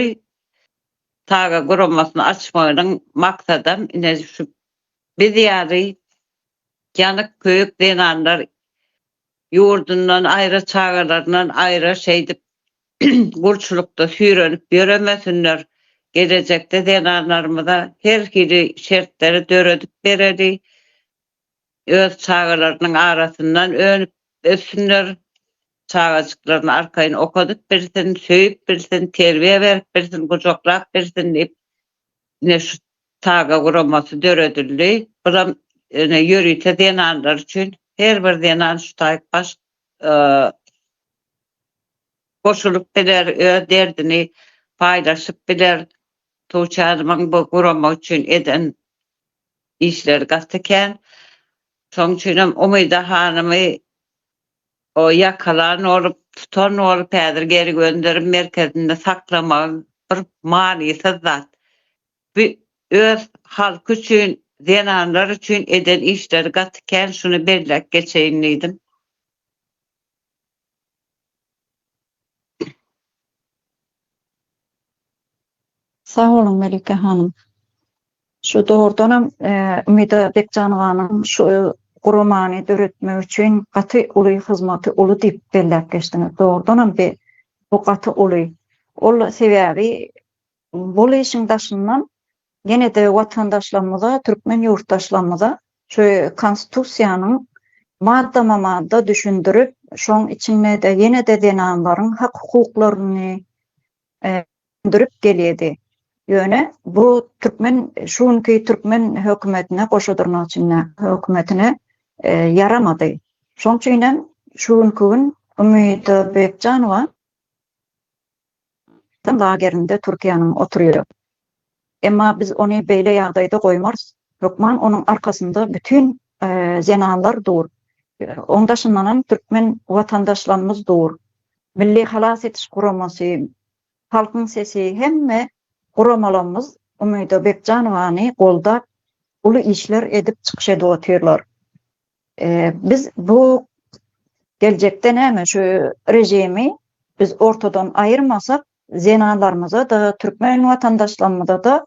saga guramasyny açmagynyň maksadam ine şu biz ýaly ýanyk köýük zenanlar Ýurdundan aýra çagalaryndan aýra şeýdip gulçulykda süýrenip ýöremesinler, gelejekde zenanlarymyza her hili şertleri döredip bereli, öz çagalarynyň arasyndan önüp ösünler, çagajyklaryny arkaýyn okadyp bilsin, söýüp bilsin, terbiýe berip bilsin, gujaklap bilsin diýip Ine şu TAGA guramasy döredildi. Bulam ine ýörite zenanlar üçin. Her bir zenan şu taýk baş goşulyp biler, öz derdini paýlaşyp biler. Tuğçe hanymyň bu gurama üçin eden işleri gaty kän. Şoň üçinem Umyda hanymy Ol ýakalan bolup, tutan bolup, häzir geri gönderim merkezinde saklamagy bir manysyz zat. Bu öz halky üçin, zenanlar üçin eden işleri gaty kän, şuny belläp geçeýin diýdim. Sag boluň Melike hanym. Şu dogrudan hem Umida Bekjanowanyň şu guramany döretmek üçin gaty uly hyzmaty uly diýip belläp geçdiňiz. Dogrudan hem bu gaty uly. Ol sebäbi Bul işiň daşyndan ýene-de watandaşlarymyza, türkmen ýurtdaşlarymyza şu Konstitusiýanyň maddama-madda düşündirip, şoň içinde-de ýene-de zenanlaryň hak-hukuklaryny düşündirip gelýedi. Ýöne bu türkmen, şu günki türkmen hökümetine, goşa dyrnak içinde hökümetine ýaramady. Şoň üçinem şu günki gün Umyda Bekjanowa. Watan lagerinde Türkiýäniň oturyr. Emma biz ony beýle ýagdaýda goýmarys. Hökman onuň arkasynda bütin zenanlar dur. Oň daşyndanam türkmen watandaşlarymyz dur. Milli halas ediş guramasy, Halkyň sesi hemme guramalarymyz Umyda Bekjanowany goldap uly işler edip çykyş edip otyrlar. Biz bu geljekde näme şu režimi biz ortadan aýyrmasak, zenanlarymyza-da, türkmen watandaşlarymyza-da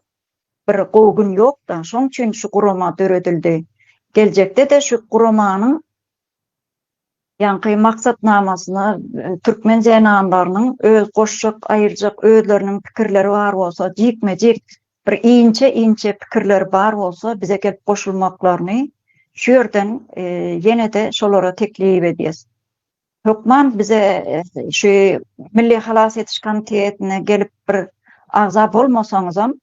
bir gowy gün ýok-da, şoň üçin şu gurama döredildi. Geljekde-de şu guramanyň ýaňky maksatnamasyna türkmen zenanlarynyň öz goşjak, aýyrjak özleriniň pikirleri bar bolsa, jikme-jik Bir inçe inçe pikirleri bar bolsa bize gelip goşulmaklaryny şu ýerden ýene-de şolara teklip edýäs. Hökman bize şu Milli halas ediş komitetine gelip bir agza bolmasaňyzam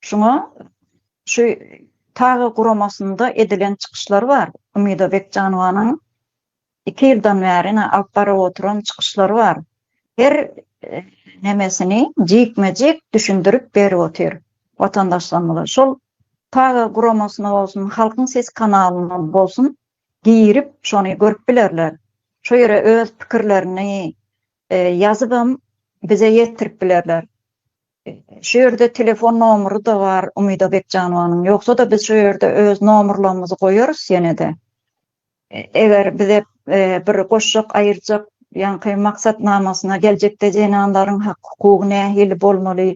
şuňa şu TAGA guramasynda edilen çykyşlar bar Umyda Bekjanowanyň Iki ýyldan bäri ine alyp baryp oturan çykyşlary bar. Her nemesini jikme-jik düşündirip berip otyr watandaşlarymyza. Şol Paga guramasyna bolsun, Halkyň sesi kanalyna bolsun girip şony görüp bilerler. Şo ýere öz pikirlerini ýazybam bize ýetirip bilerler. Şu ýerde telefon nomury-da bar Umyda Bekjanowanyň. Ýogsa-da biz şo ýerde öz nomerlerimizi goýarys ýene-de. Eger bize bir goşjak aýyrjak ýaňky maksatnamasyna geljekde zenanlaryň hak-hukugy nähili bolmaly,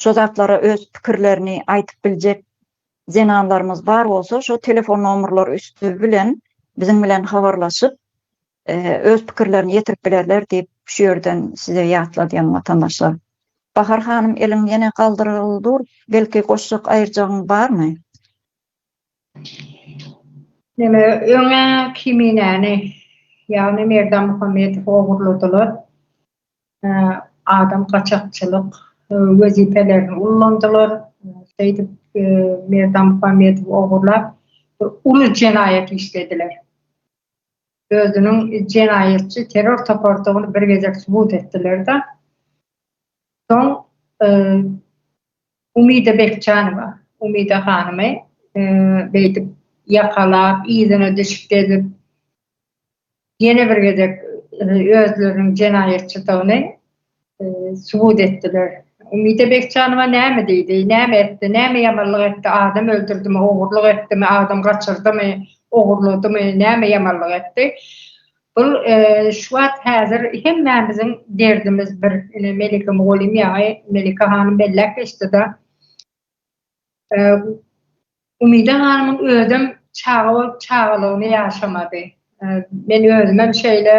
şo zatlara öz pikirlerini aýtyp biljek zenanlarymyz bar bolsa, şo telefon nomerleri üsti bilen biziň bilen habarlaşyp, öz pikirlerini ýetirip bilerler diýip, şu ýerden size ýatladýan watandaşlar. Bahar hanym eliň ýene galdyryl dur, belki goşjak aýyrjagyň barmy? Ýöne öň-ä Kiminäni, ýagny Merdan Muhammedowy ogurladylar, adam gaçakçylyk wezipelerini ullandylar, şeýdip Merdan Muhammedowy ogurlap bir uly jenaýat işlediler. özüniň jenaýatçy terror topardygyny bir gezek subut etdiler-de, soň Umida Bekjanowa, Umida hanymy beýdip ýakalap, yzyna düşüp gezip, ýene bir gezek özleriniň jenaýatçydygyny subut etdiler. Umide Bekjanowa näme diýdi, näme etdi, näme ýamanlyk etdi, adam öldürdimi, ogurlyk etdimi, adam gaçyrdymy, ogurladymy, näme ýamanlyk etdi? Bul şu wagt häzir hemmämiziň derdimiz bir. Ine Melike mugallym ýaňy Melike hanym belläp geçdi-de. Umyda hanymyň özem çaga bolup çagalygyny ýaşamady. Men özümem şeýle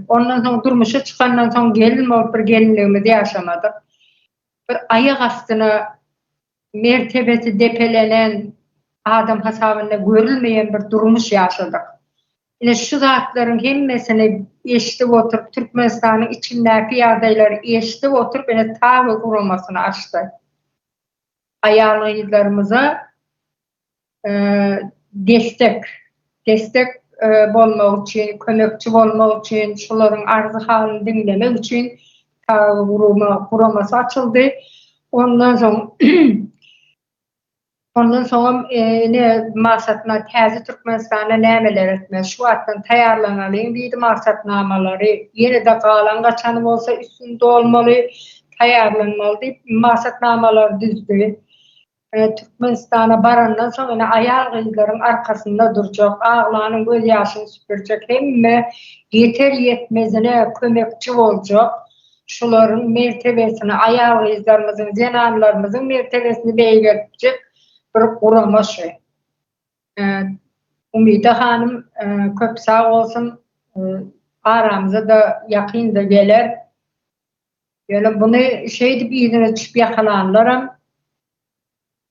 ondan soň durmuşa çykandan soň gelin bolup bir gelinligimizi ýaşamadyk. Bir aýak astyna mertebesi depelenen adam hasabynda görülmeýän bir durmuş ýaşadyk. Ine şu zatlaryň hemmesini eşidip oturyp Türkmenistanyň içindäki ýagdaýlary eşidip oturyp ine Tawy guramasyny açdy. Aýal-gyzlarymyza destek, destek bolmak üçin, kömekçi bolmak üçin, şolaryň arzy-halyny diňlemek üçin guramasy açyldy. Ondan soň Ondan soňam ine maksatnama Täze Türkmenistanda nämeler etmeli? Şu wagtdan taýýarlanalyň diýdi maksatnamalary. Ýene-de galan-gaçany bolsa üstüni dolmaly. taýýarlanmaly diýip maksatnamalary düzdi. Türkmenistana barandan soň ine aýal-gyzlaryň arkasynda durjak, aglanyň göz ýaşyny süpürjek, hemme ýeter-ýetmezine kömekçi boljak, şularyň mertebesini, aýal-gyzlarymyzyň, zenanlarymyzyň mertebesini beýgeltjek bir gurama şu. Umyda hanym köp sag bolsun, aramyza-da ýakyn-da geler. Ýöne buny şeýdip yzyna düşüp ýakalanlaram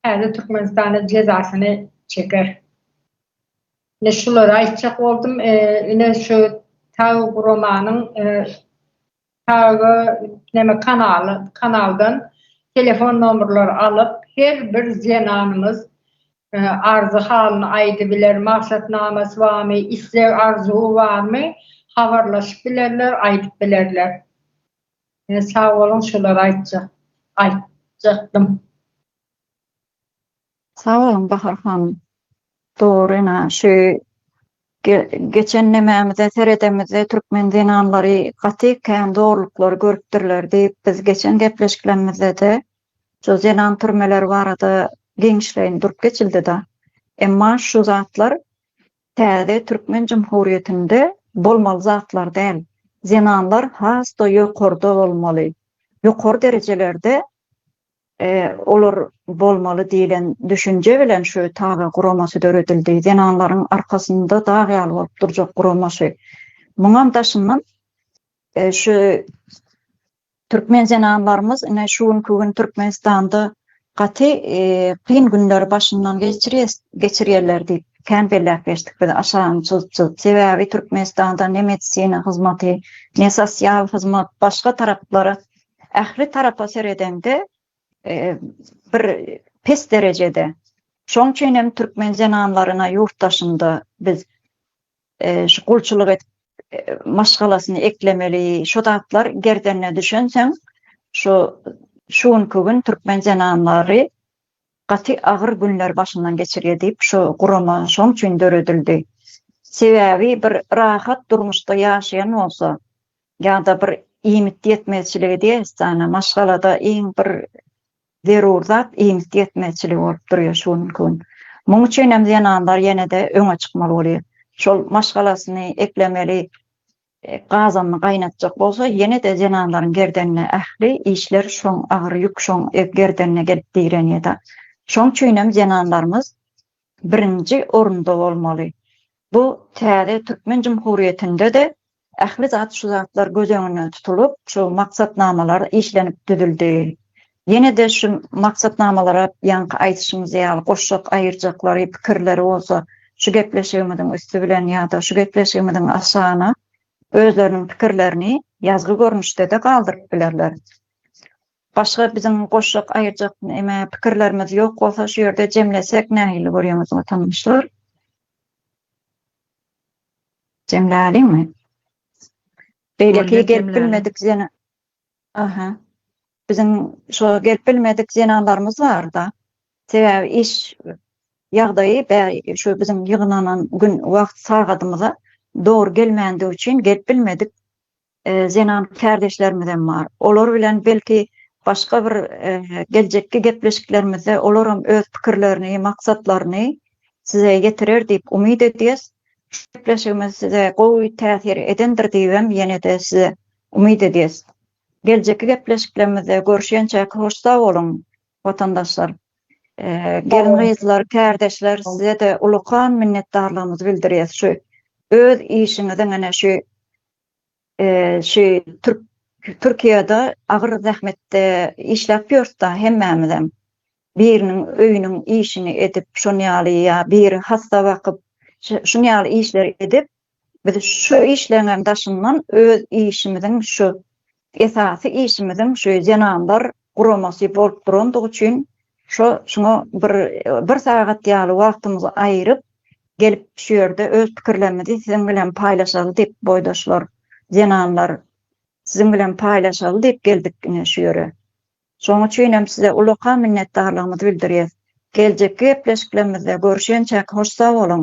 täze Türkmenistanda jezasyny çeker. Ine şulary aýtjak boldum. Ine şu Tagy guramanyň Tagy neme kanaly kanaldan telefon nomerleri alyp her bir zenanymyz Arzy halyny aýdybiler, maksatnamasy barmy, isleg arzuwy barmy habarlaşyp bilerler, aýdyp bilerler. Sag boluň şulary aýtjak aýtjakdym. Sag boluň Bahar hanym. Dogry ene şu Geçen nämämize seredemizde türkmen zenanlary gaty kän zorluklary görüpdirler diýip biz geçen gepleşiklerimizdede şu zenan türmeleri barada giňişleýin durup geçildida. Emma şu zatlar täze türkmen jumhurýetinde bolmaly zatlar däl. Zenanlar has-da ýokarda bolmaly. Ýokary derejelerde Olar bolmaly diýlen düşünje bilen şu taze guramasy döredildi. Zenanlaryň arkasynda dag ýaly bolup durjak guramasy. Muňam daşyndan şu türkmen zenanlarymyz ine şu günki gün Türkmenistanda gaty kyn günleri başyndan geçirýärler diýip kän belläp geçdik biz aşan çyzyp-çyzyp. Sebäbi Türkmenistanda ne medisina hyzmaty, ne sosial hyzmat başga taraplara ähli tarapa seredeňde bir pes derejede. Şoň üçin hem türkmen zenanlaryna ýurt daşynda biz şu gulçulyk edip maşgalasyny eklemeli, şu zatlar gerdenine düşensoň şu şu günki gün türkmen zenanlary gaty agyr günler başyndan geçirýär diýip şu gurama şoň üçin döredildi. Sebäbi bir rahat durmuşda ýaşaýan bolsa, ýa-da bir iýmit ýetmezçiligi diýesdana, maşgalada iň bir zerur zat iýmit ýetmezçiligi bolup durýar şu günki gün. Muň üçin hem zenanlar ýene-de öňe çykmaly bolýar. Şol maşgalasyny eklemeli, gazanyny gaýnatjak bolsa, ýene-de zenanlaryň gerdenine ähli işler şoň agyr ýük şoň gerdenine gelip direnýär-de. Şoň üçin hem zenanlarymyz birinji orunda bolmaly. Bu täze türkmen jumhuriýetinde-de ähli zat şu zatlar göz öňünde tutulyp, şu maksatnamalar işlenip düzüldi. Ýene-de şu maksatnamalara ýaňky aýdyşymyz ýaly goşjak aýyrjaklary, pikirleri bolsa şu gepleşigimiziň üsti bilen ýa-da şu gepleşigimiziň aşagyna özleriniň pikirlerini ýazgy görnüşde-de galdyryp bilerler. Başga biziň goşjak aýyrjak neme pikirlerimiz ýok bolsa şu ýerde jemlesek nähili görýäňiz watandaşlar? Jemläliňmi? Beýleki gelip bilmedik ýene Aha. Biziň şo gelip bilmedik zenanlarymyz barda. Sebäbi iş ýagdaýy bäri şu biziň ýygnanan gün wagt sagadymyza dogry gelmändigi üçin gelip bilmedik. zenan kärdeşlerimizem bar. Olar bilen belki başga bir geljekki gepleşiklerimizde olaram öz pikirlerini, maksatlaryny size ýetirer diýip umyt edýäs. Şu gepleşigimiz size gowy täsir edendir diýibem ýene-de size umyt edýäs. Geljekki gepleşiklerimizde görüşýänçäk hoş sag boluň watandaşlar. Gelin-gyzlar, kärdeşler size-de ulakan minnetdarlygymyzy bildirýäs şu öz işiňiziň ene şu şu türk Türkiýede agyr zähmetde işläp ýörs-de hemmämizem. Biriniň öýüniň işini edip, şonuň ýaly ýa biri hassa bakyp, şunuň ýaly işleri edip, biz şu işleriňem daşyndan öz işimiziň şu Esasy işimiziň şu zenanlar guramasy bolup durandygy üçin şo şuňa bir bir sagat ýaly wagtymyzy aýyryp gelip şu ýerde öz pikirlerimizi siziň bilen paýlaşaly diýip boýdaşlar zenanlar siziň bilen paýlaşaly diýip geldik ine şu ýere. Şoň üçinem size ulakan minnetdarlygymyzy bildirýäs. Geljekki gepleşiklerimizde görüşençäk hoş sag boluň.